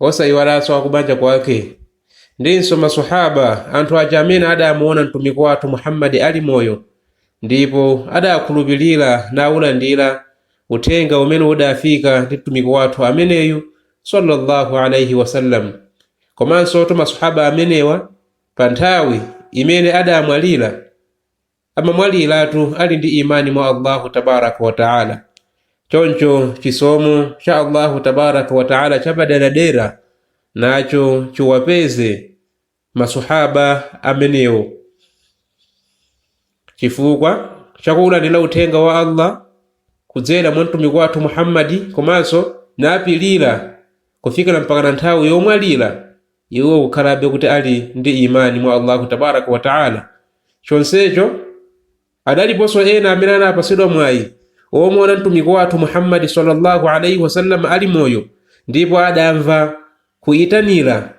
osayiwalanso akubanja kwake ndinso maswahaba anthu aja amene adamuona mtumiki wathu muhammadi ali moyo ndipo adakhulupirira naulandira uthenga umene udafika ndi mtumiki wathu ameneyu sallallahu alaihi wasallam komanso to maswahaba amenewa pa nthawi imene adamwalira amamwaliratu ali ndi imani mwa allahu tabaraka wataala choncho chisomo cha allahu tabaraka wataala chapaderadera nacho chiwapeze maswahaba amenewo chifukwa chakuulandira uthenga wa allah kudzera mwa mtumiki wathu muhammadi komanso napilira kufikira mpaka na nthawi yomwalira iwo kukhalabe kuti ali ndi Iman mwa Allahu tabaraka wa ta'âlâ. Chonsecho, adaliponso ena amene anapatsidwa mwayi omuona Mtumiki wathu Muhammad sallallâhu alaihi wa sallam ali moyo ndipo adamva kuitanira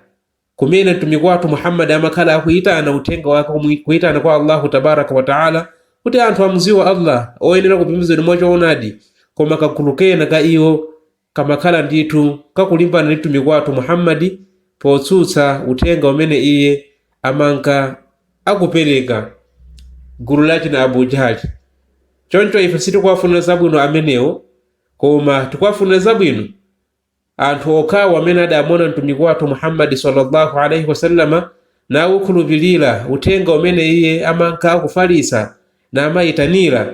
kumene Mtumiki wathu Muhammad amakhala akuitana uthenga wake omwe kuitana kwa Allahu tabaraka wa ta'âlâ kuti anthu amudziwe Allah oyenera kupembedzedwa mwa choonadi koma kagulu kena ka iwo kamakhala ndithu kakulimbana ndi Mtumiki wathu Muhammad potsutsa uthenga umene iye amanka akupereka, gulu la achina Abu Jahli. Choncho ife sitikuwafunira zabwino amenewo, koma tikuwafunira zabwino anthu okhawo amene adamuona Mtumiki wathu Muhammad sallallahu alaihi wasallama nawukhulupirira uthenga umene iye amanka akufalitsa namayitanira.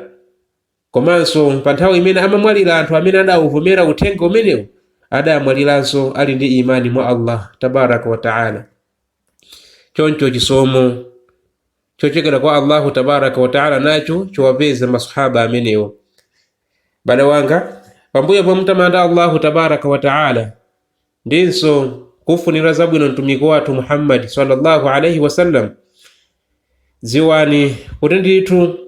Komanso pa nthawi imene amamwalira anthu amene adawuvomera uthenga umenewu adamwaliranso ali ndi Iman mwa Allah Tabaraka wa Ta'ala. Choncho chisomo chochokera kwa Allahu Tabaraka wa Ta'ala nacho chiwapeze maswahaba amenewo. Abale anga, pambuyo pomutamanda Allahu Tabaraka wa Ta'ala ndinso kufunira zabwino mtumiki wathu Muhammad sallallahu alaihi wasallam, dziwani kuti ndithu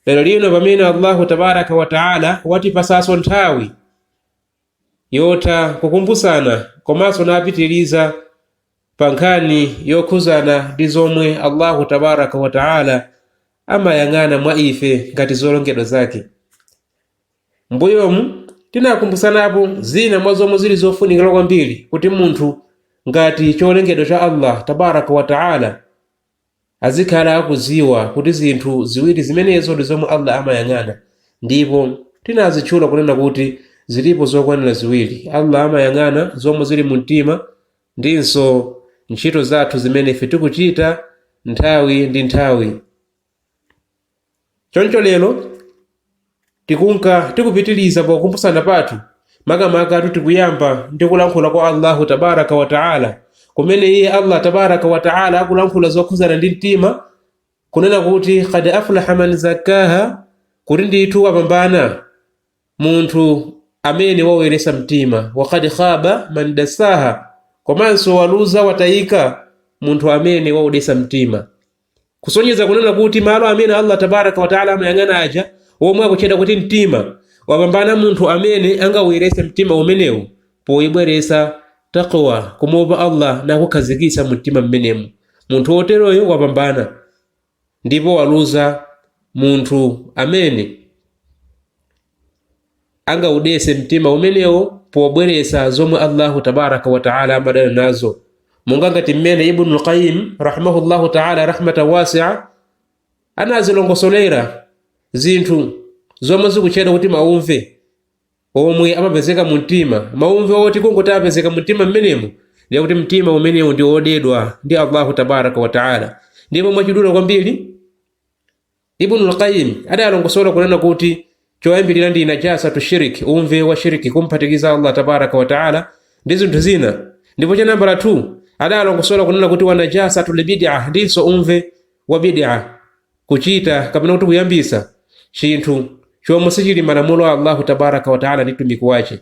lero lino pamene allahu tabaraka wataala watipasaso nthawi yotha kukumbutsana komanso napitiriza pa nkhani yokhuzana ndi zomwe allahu tabaraka wataala amayang'ana mwa ife ngati zolongedwa zake mbuyomu tinakumbutsanapo zina mwa zomwe zili zofunikira kwambiri kuti munthu ngati cholengedwa cha allah tabaraka wataala azikhala akudziwa kuti zinthu ziwiri zimenezo ndi zomwe Allah amayang'ana, ndipo tinazitchula kunena kuti zilipo zokwanira ziwiri, Allah amayang'ana zomwe zili mu mtima ndinso ntchito zathu zimene ife tikuchita nthawi ndi nthawi. Choncho lero tikunka tikupitiliza pa kukumbutsana pathu makamakatu tikuyamba ndi kulankhula kwa Allahu tabaraka wa taala kumene iye Allah tabaraka wa taala akulankhula zokhudzana ndi mtima kunena kuti kad aflaha man zakkaha kuti ndithu wapambana munthu amene waweresa mtima wakad khaba man dasaha komanso waluza watayika munthu amene waudesa mtima kusonyeza kunena kuti malo amene allah tabaraka wataala amayang'ana aja omwe akutchedwa kuti mtima wapambana munthu amene angawuyeretse mtima umenewu poyibweretsa takwa kumuopa allah nkuikhazikitsa mu mtima mmenemu munthu woteroyo wapambana ndipo waluza munthu amene angaudese mtima umenewo pobweretsa zomwe allahu tabaraka wataala amadana nazo monga ngati mmene ibnu lqayim rahimahullahu taala rahmatan wasia anazilongosolera zinthu zomwe zikutchedwa kuti mauve omwe amapezeka mu mtima mauve oti kungoti apezeka mu mtima mmenemo ndiye kuti mtima umenewu ndi wodedwa ndi allahu tabaraka wataala ndipo mwachidule kwambiri Ibnul Qayyim adalongosola kunena kuti choyambirira ndi najasatu shiriki, uve wa shiriki, kumphatikiza Allah tabaraka wa taala ndi zinthu zina. Ndipo cha nambala 2 adalongosola kunena kuti wa najasatu libid'a, ndinso uve wa bid'a, kuchita kapena kuti kuyambisa chinthu chomwe sichili m'malamulo a Allahu tabaraka wa taala ndi mtumiki wache.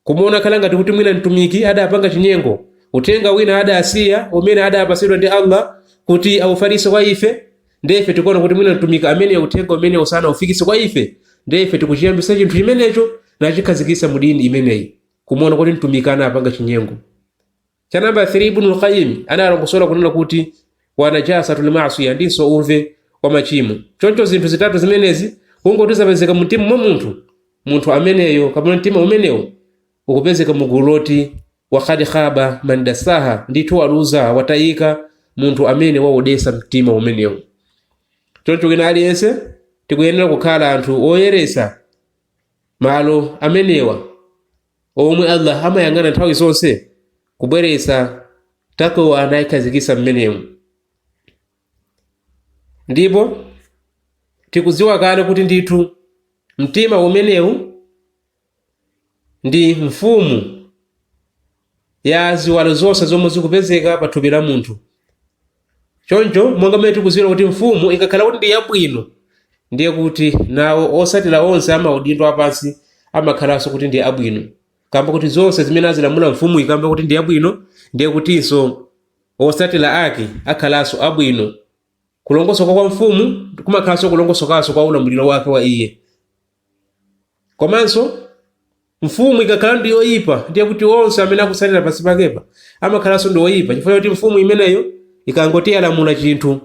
Kumuona kukhala ngati kuti mwina Mtumiki adapanga chinyengo, uthenga wina adasiya umene adapatsidwa ndi Allah kuti aufalitse kwa ife, ndiye ife tikuona kuti mwina Mtumiki ameneyo uthenga umenewo sanaufikitse kwa ife, ndiye ife tikuchiyambitsa chinthu chimenecho nachikhazikitsa mu dini imeneyi, kumuona kuti Mtumiki anapanga chinyengo. cha namba 3 ibnul qayim analongosola kunena kuti wa najasatu limasiya ndinso uve wa machimo choncho zinthu zitatu zimenezi kungoti zapezeka mu mtima mwa munthu munthu ameneyo kapena mtima umenewo ukupezeka mu gulu loti wakhadi khaba man dasaha ndithu waluza watayika munthu amene waudesa mtima umenewo choncho wina aliyense tikuyenera kukhala anthu oyeresa malo amenewa omwe Allah amayang'ana nthawi zonse kubweretsa takwa nayikhazikitsa mmenemu ndipo tikudziwa kale kuti ndithu mtima umenewu ndi mfumu ya ziwalo zonse zomwe zikupezeka pa thupi la munthu Choncho, monga mmene tikudziwa kuti mfumu ikakhala kuti ndi yabwino, ndiye kuti nawo otsatira onse amaudindo apansi amakhalanso kuti ndi abwino. Kamba kuti zonse zimene azilamula mfumu ikamba kuti ndi yabwino, ndiye kutinso otsatira ake akhalanso abwino. Kulongosoka kwa mfumu kumakhalanso kulongosokanso kwa ulamuliro wake wa iye. komanso mfumu ikakhala ndi yoyipa ndiye kuti onse amene akutsatira pansi pakepa amakhalanso ndi oyipa chifukwa choti mfumu imeneyo ikangoti yalamula chinthu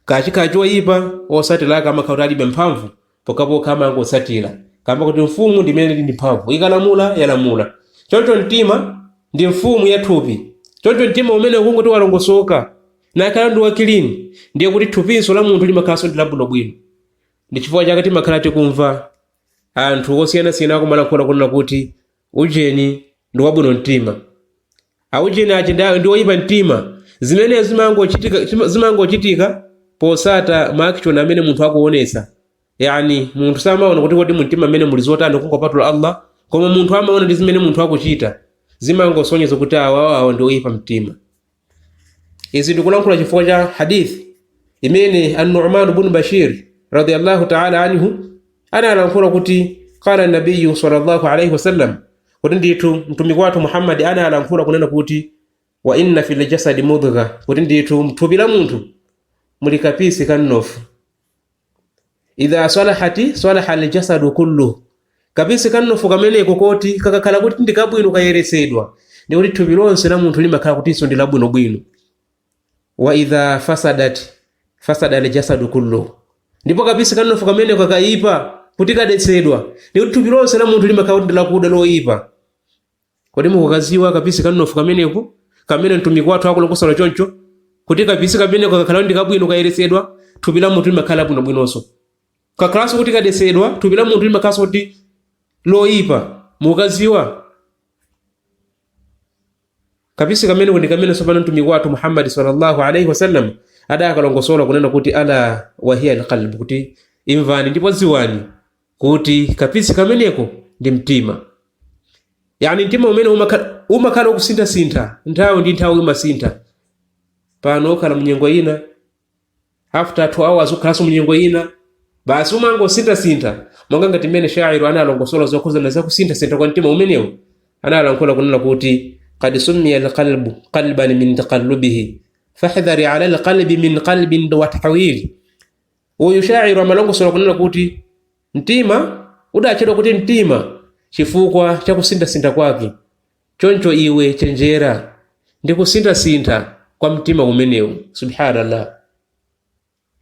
kachikhala choyipa otsatira ake amakhala kuti alibe mphamvu pokhapokha amangotsatira kamba kuti mfumu ndi imene ili ndi mphamvu ikalamula yalamula choncho mtima ndi mfumu ya thupi choncho mtima umene ukangoti walongosoka nakhala ndi wakilini ndiye kuti thupinso la munthu limakhalanso ndi labwinobwino ndi chifukwa chake timakhala tikumva anthu osiyanasiyana akumalankhula kunena kuti ujeni ndi wabwino mtima aujeni aja ndi- ndi oyipa mtima zimenezo zimangochitika chima- zimangochitika potsata maaction amene munthu akuonesa yani munthu samaona kuti kodi mumtima mmene muli zotani kungopatula allah koma munthu amaona ndi zimene munthu akuchita zimangosonyeza kuti awawawa ndi oyipa mtima izi ndikulankhula chifukwa cha hadith imene an-nu'man ibn bashir radiyallahu ta'ala anhu analankhula kuti qala an-nabiy sallallahu alayhi wasallam kuti ndithu mtumiki wathu muhammad analankhula kunena kuti wa inna fil jasadi mudgha kuti ndithu mthupi la munthu muli kapisi ka mnofu idha salahat salaha aljasadu kulluhu kapisi ka mnofu kameneko koti kakakhala kuti ndi kabwino kayeretsedwa ndiye kuti thupi lonse la munthu limakhala kutinso ndi labwinobwino wa idha fasadat fasada aljasadu kulluhu ndipo kapisi ka mnofu kameneko kakayipa kuti kadetsedwa ndiye kuti thupi lonse la munthu limakhala kuti ndi lakuda loyipa Kodi mukukadziwa kapisi ka mnofu kameneko kamene mtumiki wathu akulongosola choncho? Kuti kapisi kameneko kakakhala ndi kabwino kayeretsedwa, thupi la munthu limakhala labwinobwinonso. Kakhalanso kuti kadetsedwa, thupi la munthu limakhalanso kuti loyipa. Mukukadziwa? Kapisi kameneko ndi kamene tsopano mtumiki wathu Muhammad sallallahu alaihi wasallam adakalongosola kunena kuti ala wahiya alqalb kuti imvani ndipo dziwani kuti kapisi kameneko ndi mtima yani mtima umene umakhala umakhala ukusintha-sintha nthawi ndi nthawi umasintha pano ukhala munyengo ina after 2 hours ukhalanso munyengo ina basi umangosintha-sintha monga ngati mmene shairu analongosola zokhuzana za kusintha-sintha kwa mtima umenewu analankhula kunena kuti qad summiya alqalbu qalban min taqallubihi fahdhar ala alqalbi min qalbin watahwili Uyu shaair amalongosola kunena kuti, Mtima udatchedwa kuti mtima chifukwa cha kusinthasintha kwake, choncho iwe chenjera ndi kusinthasintha kwa mtima umenewu. Subhaanallah!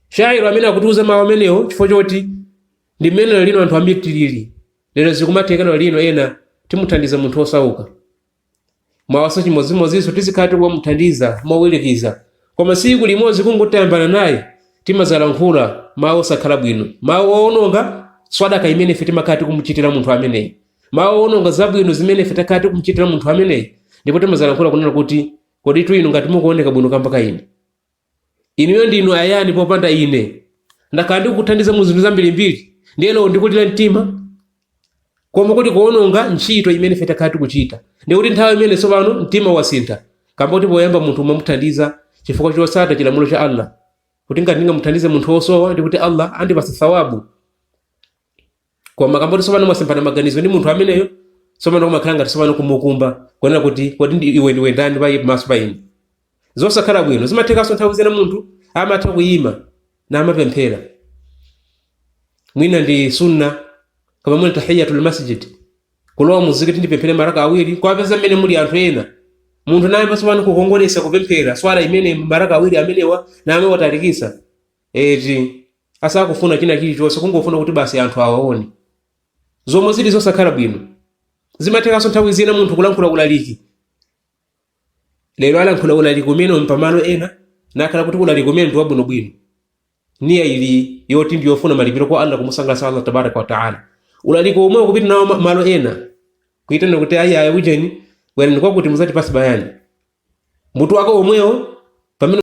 Shaair amene akutiuza mawu amenewo chifukwa choti ndi mmene lero lino anthu ambiri tilili. Lero zikumatheka lero lino ena timuthandiza munthu wosauka, Mawanso chimodzimodzinso tizikhala tikumamuthandiza mowilikiza koma siku limodzi kungoti tayambana naye timadzalankhula mau osakhala bwino mau owononga swadaka imene ife timakhala tikumuchitira munthu ameneyi mau owononga zabwino zimene ife takhala tikumuchitira munthu ameneyi ndipo timadzalankhula kunena kuti koditu inu ngati mukuoneka bwino kamba ka ine inuyo ndinu ayani popanda ine ndakhala ndikukuthandiza mu zinthu zambirimbiri ndiye lero ndikulira mtima koma kuti kuononga ntchito imene ife takhala tikuchita ndiye kuti nthawi imene tsopano mtima wasintha kamba kuti poyamba munthu umamuthandiza chifukwa chosata chilamulo cha allah kuti ngati ndingamuthandize munthu wosowa ndiye kuti allah andipasa thawabu koma kamba koti tsopano mwasemphana maganizo ndi munthu ameneyo tsopano kumakhala ngati tsopano kumukumba kuonera kuti kodi ndi iwe ndiwe ndani pa pamaso pa ine zosakhala bwino zimathekanso nthawi zina munthu amatha kuyima namapemphera mwina ndi sunna kaya mwina tahiyatul masjid kulowa muzikiti ndipemphere maraka awiri wapeza mmene muli anthu ena munthu naye pasopano kukongolesa kupemphera swala imene maraka awiri amenewa naye watalikisa eti asakufuna china chilichonse kungofuna kuti basi anthu awaone zomwe zili zosakhala bwino zimathekanso nthawi zina munthu kulankhula ulaliki lero alankhula ulaliki umenewu pamalo ena nakhala kuti ulaliki umenewu ndi wabwinobwino niya ili yoti ndi yofuna malipiro kwa allah kumusangalatsa allah tabaraka wataala ulaliki omwewo kupita nawo ma- malo ena kuitana kuti ayi ayi ujeni bwerani kwakuti muzatipase bayani mutu wako omwewo pamene